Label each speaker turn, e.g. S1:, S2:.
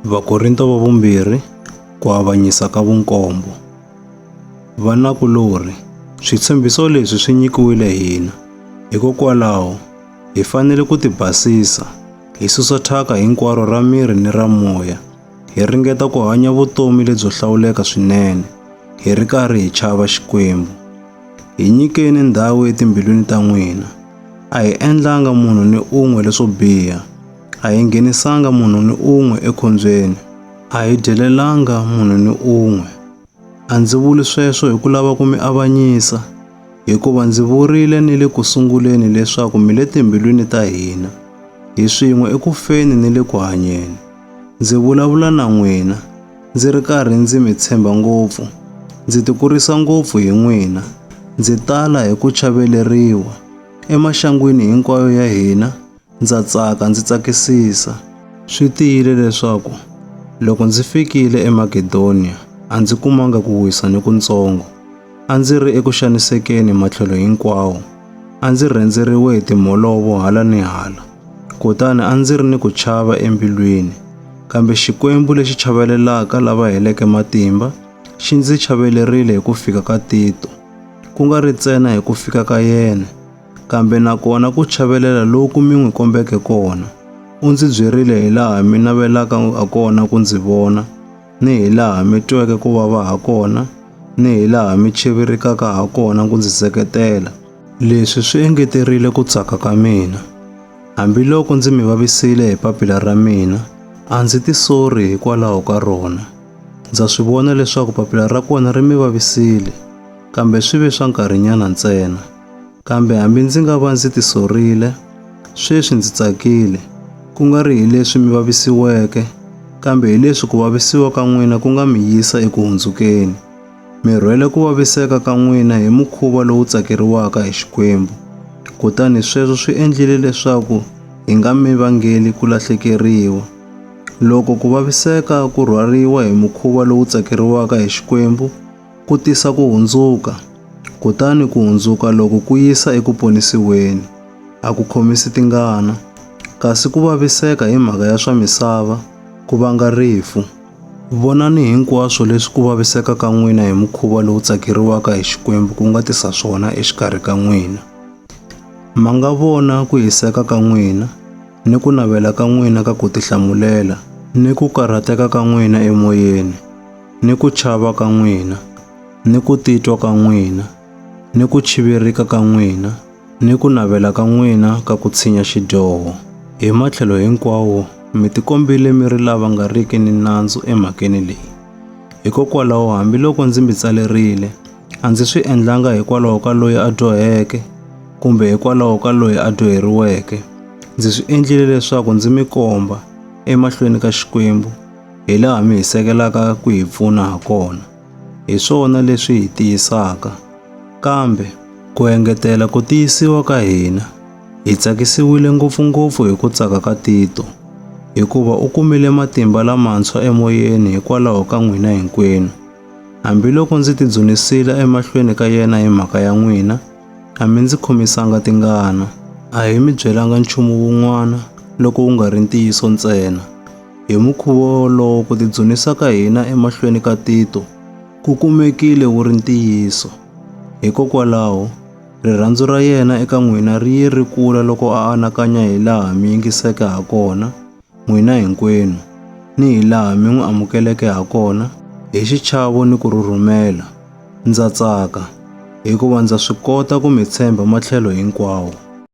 S1: Vakorinto va vumbirhi ku avanyisa ka vunkombo. Vanakulorhi, switshembiso leswi swi nyikiwile hina. Hikokwalaho, hi fanele ku tibasisa, hi susa thyaka hinkwaro ra miri ni ra moya, hi ringeta ku hanya vutomi lebyo hlawuleka swinene, hi ri karhi hi chava Xikwembu. Hi nyikeni ndhawu etimbilwini ta n'wina. A hi endlanga munhu ni un'we leswo biha. A hi nghenisanga munhu ni un'we ekhombyeni. A hi dyelelanga munhu ni un'we. A ndzi vuli sweswo hi ku lava ku mi avanyisa, hikuva ndzi vurile ni le ku sunguleni leswaku mi le timbilwini ta hina, hi swin'we eku feni ni le ku hanyeni. Ndzi vulavula na n'wina, ndzi ri karhi ndzi mi tshemba ngopfu, ndzi tikurisa ngopfu hi n'wina, ndzi tala hi ku chaveleriwa, emaxangwini hinkwayo ya hina Ndza tsaka ndzi tsakisisa. Swi tiyile leswaku loko ndzi fikile eMakedoniya a ndzi kumanga ku wisa ni kuntsongo. A ndzi ri eku xanisekeni matlhelo hinkwawo. A ndzi rhendzeriwe hi timholovo hala ni hala, kutani a ndzi ri ni ku chava embilwini. Kambe Xikwembu lexi chavelelaka lava heleke matimba xi ndzi chavelerile hi ku fika ka Tito, ku nga ri ntsena hi ku fika ka yena, kambe na kona ku chavelela loku mi n'wi kombeke kona. U ndzi byerile hi laha mi navelaka ha kona ku ndzi vona, ni hi laha mi tweke ku vava ha kona, ni hi laha mi chevirikaka ha kona ku ndzi seketela. Leswi swi engeterile ku tsaka ka mina. Hambiloko ndzi mi vavisile hi papila ra mina, a ndzi tisori hikwalaho ka rona. Ndza swi vona leswaku papila ra kona ri mi vavisile, kambe swi ve swa nkarhinyana ntsena. Kambe hambi ndzi nga va ndzi tisorile, sweswi ndzi tsakile, ku nga ri hi leswi mi vavisiweke, kambe hi leswi ku vavisiwa ka n'wina ku nga mi yisa eku hundzukeni. Mi rhwele ku vaviseka ka n'wina hi mukhuva lowu tsakeriwaka hi Xikwembu, kutani sweswo swi endlile leswaku hi nga mi vangeli ku lahlekeriwa. Loko ku vaviseka ku rhwariwa hi mukhuva lowu tsakeriwaka hi Xikwembu, ku tisa ku hundzuka, kutani ku hundzuka loku ku yisa eku ponisiweni. A ku khomisi tingana, kasi ku vaviseka hi mhaka ya swa misava ku vanga rifu. Vonani hinkwaswo leswi ku vaviseka ka n'wina hi mukhuva lowu tsakeriwaka hi Xikwembu ku nga tisa swona exikarhi ka n'wina. Ma nga vona ku hiseka ka n'wina, ni ku navela ka n'wina ka ku tihlamulela, ni ku karhateka ka n'wina emoyeni. ni ku chava ka n'wina, ni ku titwa ka n'wina, ni ku chivirika ka n'wina, ni ku navela ka n'wina ka ku tshinya xidyoho. Hi matlhelo hinkwawo mi tikombile mi ri lava nga riki ni nandzu emhakeni leyi. Hikokwalaho hambiloko ndzi mi tsalerile, a ndzi swi endlanga hikwalaho ka loyi a dyoheke, kumbe hikwalaho ka loyi a dyoheriweke, ndzi swi endlile leswaku ndzi mi komba, emahlweni ka Xikwembu, hi laha mi hi sekelaka ku hi pfuna ha kona. Hi swona leswi hi tiyisaka. Kambe, ku engetela ku tiyisiwa ka hina, hi tsakisiwile ngopfu-ngopfu hi ku tsaka ka Tito, hikuva u kumile matimba lamantshwa emoyeni hikwalaho ka n'wina hinkwenu. Hambiloko ndzi tidzunisile emahlweni ka yena hi mhaka ya n'wina, a mi ndzi khomisanga tingana. A hi mi byelanga nchumu wun'wana loko wu nga ri ntiyiso ntsena. Hi mukhuvo wolowo ku tidzunisa ka hina emahlweni ka Tito ku kumekile wu ri ntiyiso. Hikokwalaho, rirhandzu ra yena eka n'wina ri ye ri kula loko a anakanya hi laha mi yingiseke ha kona, n'wina hinkwenu, ni hi laha mi n'wi amukeleke ha kona hi xichavo ni ku rhurhumela. Ndza tsaka, hikuva ndza swi kota ku mi tshemba matlhelo hinkwawo.